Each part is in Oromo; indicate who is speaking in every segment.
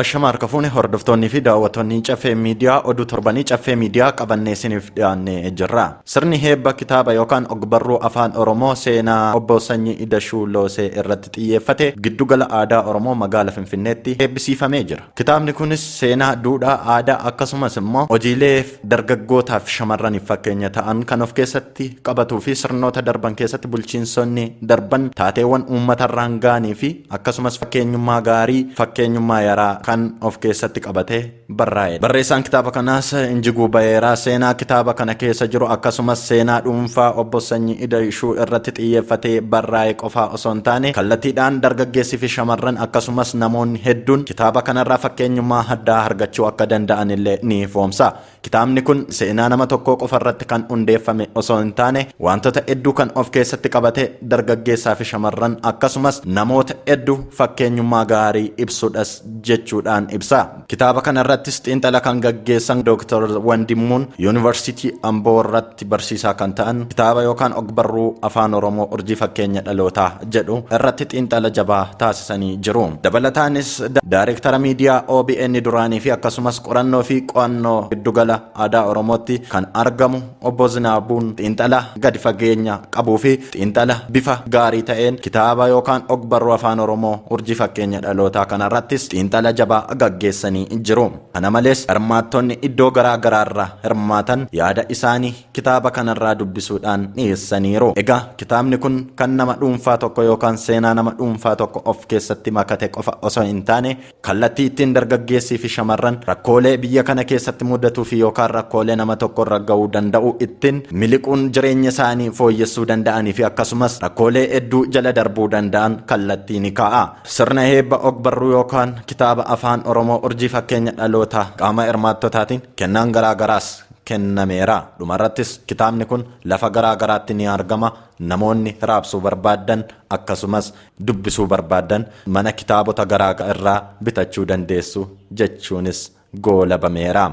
Speaker 1: Ashama harka fuune hordoftoonnii fi daawwattoonni caffee miidiyaa oduu torbanii caffee miidiyaa qabannee isiniif dhiyaannee jirra. Sirni heebba kitaaba yookaan ogbarruu afaan Oromoo seenaa obbo Sanyii Idashuu Loosee irratti xiyyeeffate giddugala aadaa Oromoo magaala Finfinneetti heebbisiifamee jira. Kitaabni kunis seenaa, duudhaa, aadaa akkasumas immoo hojiilee dargaggootaaf shamarraniif fakkeenya ta'an kan of keessatti qabatuu fi sirnoota darban keessatti bulchiinsonni darban taateewwan uummatarraan ga'anii fi akkasumas fakkeenyummaa gaarii fakkeenyummaa yaraa kan of keessatti qabatee barraa'edha. Barreessaan kitaaba kanaas Injiguu Bayeeraa seenaa kitaaba kana keessa jiru akkasumas seenaa dhuunfaa obbo Sanyii Ida'ishuu irratti xiyyeeffatee barraa'e qofaa osoo hin taane kallatiidhaan dargaggeessi fi shamarran akkasumas namoonni hedduun kitaaba kanarraa fakkeenyummaa addaa argachuu akka danda'an illee ni ifoomsa. Kitaabni kun seenaa nama tokkoo qofa irratti kan hundeeffame osoo hin taane wantoota hedduu kan of keessatti qabate dargaggeessaa fi shamarran akkasumas namoota hedduu fakkeenyummaa gaarii ibsudhas jechuudhaan ibsa. Kitaaba kana irrattis xiinxala kan gaggeessan Dooktar Wandimmuun Yuunivarsiitii Amboo irratti barsiisaa kan ta'an kitaaba yookaan ogbarruu Afaan Oromoo Urjii Fakkeenya Dhalootaa jedhu irratti xiinxala jabaa taasisanii jiru. Dabalataanis Daarektara Miidiyaa OBN duraanii fi akkasumas qorannoo fi qo'annoo Giddugala Aadaa Oromootti kan argamu Obbo Zinaabuun xiinxala gadi fageenya qabuu fi xiinxala bifa gaarii ta'een kitaaba yookaan ogbarruu Afaan Oromoo Urjii Fakkeenya Dhalootaa kanarrattis xiinxala jabaa gaggeessanii jiru. Kana malees, hirmaattonni iddoo garaa garaarraa hirmaatan yaada isaanii kitaaba kanarraa dubbisuudhaan dhiyeessaniiru. Egaa kitaabni kun kan nama dhuunfaa tokko yookaan seenaa nama dhuunfaa tokko of keessatti makate qofa osoo hin taane, Kallattii ittiin dargaggeessii fi shamarran rakkoolee biyya kana keessatti mudatuu fi yookaan rakkoolee nama tokko irra ga'uu danda'u ittiin miliquun jireenya isaanii fooyyessuu danda'anii fi akkasumas rakkoolee hedduu jala darbuu danda'an kallattii ni kaa'a. Sirna heebba ogbarruu yookaan kitaaba afaan Oromoo urjii fakkeenya dhalootaa qaama hirmaattotaatiin kennaan garaa garaas kennameera. Dhumarrattis kitaabni kun lafa garaa garaatti ni argama. Namoonni raabsuu barbaaddan akkasumas dubbisuu barbaaddan mana kitaabota garaa irraa bitachuu dandeessu jechuunis goolabameera.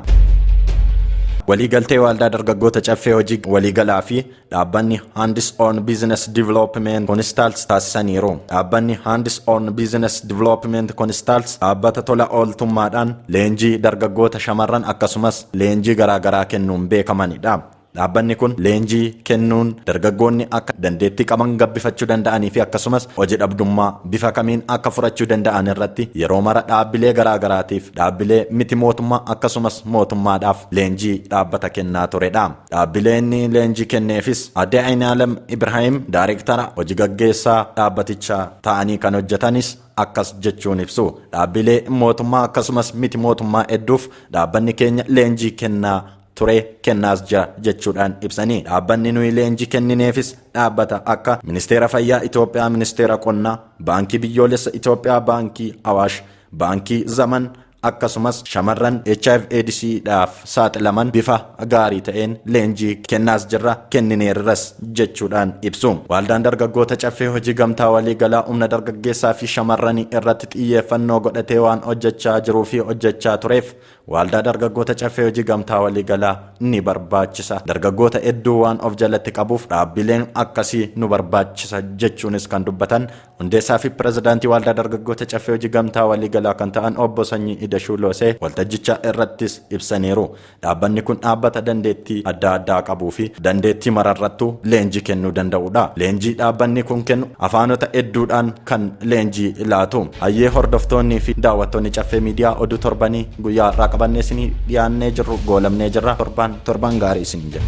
Speaker 1: Waliigaltee Waaldaa Dargaggoota Caffee Hojii Waliigalaa fi dhaabbanni Hands on Business Development Consults taasisaniiru. Dhaabbanni Hands on Business Development Consults dhaabbata tola ooltummaadhaan leenjii dargaggoota shamarran akkasumas leenjii garaagaraa kennuun beekamanidha. Dhaabbanni kun leenjii kennuun dargaggoonni akka dandeettii qaban gabbifachuu danda'anii fi akkasumas hoji dhabdummaa bifa kamiin akka furachuu danda'an irratti yeroo mara dhaabbilee garaa garaatiif, dhaabbilee miti mootummaa akkasumas mootummaadhaaf leenjii dhaabbata kennaa ture dha. Dhaabbilee inni leenjii kenneefis Aadde Ayinaalem Ibraahim Daarektara hoji gaggeessaa dhaabbatichaa ta'anii kan hojjetanis akkas jechuun ibsu. Dhaabbilee mootummaa akkasumas miti mootummaa hedduuf dhaabbanni keenya leenjii kennaa ture kennaas jira jechuudhaan ibsanii dhaabbanni nuyi leenjii kennineefis dhaabbata akka ministeera fayyaa Itoophiyaa ministeera qonnaa baankii biyyoolessa Itoophiyaa baankii awaash baankii zaman akkasumas shamarran hiv aids dhaaf saaxilaman bifa gaarii ta'een leenjii kennaas jirra kennineerras jechuudhaan ibsu waaldaan dargaggoota caffee hojii gamtaa walii galaa humna dargaggeessaa fi shamarranii irratti xiyyeeffannoo godhatee waan hojjechaa jiruu fi hojjechaa tureef Waaldaa dargaggoota caffee hojii gamtaa waliigalaa ni barbaachisa. Dargaggoota hedduu waan of jalatti qabuuf dhaabbileen akkasii nu barbaachisa jechuunis kan dubbatan hundeessaa fi pirezidaantii waaldaa dargaggoota caffee hojii gamtaa waliigalaa kan ta'an obbo Sanyii Idashuu Loosee waltajjicha irrattis ibsaniiru. Dhaabbanni kun dhaabbata dandeettii adda addaa qabuu fi dandeettii mararrattuu leenjii kennuu danda'udha. Leenjii dhaabbanni kun kennu afaanota hedduudhaan kan leenjii laatu. Hayyee hordoftoonnii fi daawwattoonni caffee miidiyaa oduu torbanii guyyaa har'aa qabannee isinii dhiyaannee jirru goolabnee jirra. Torbaan torbaan gaarii isiniin jenna.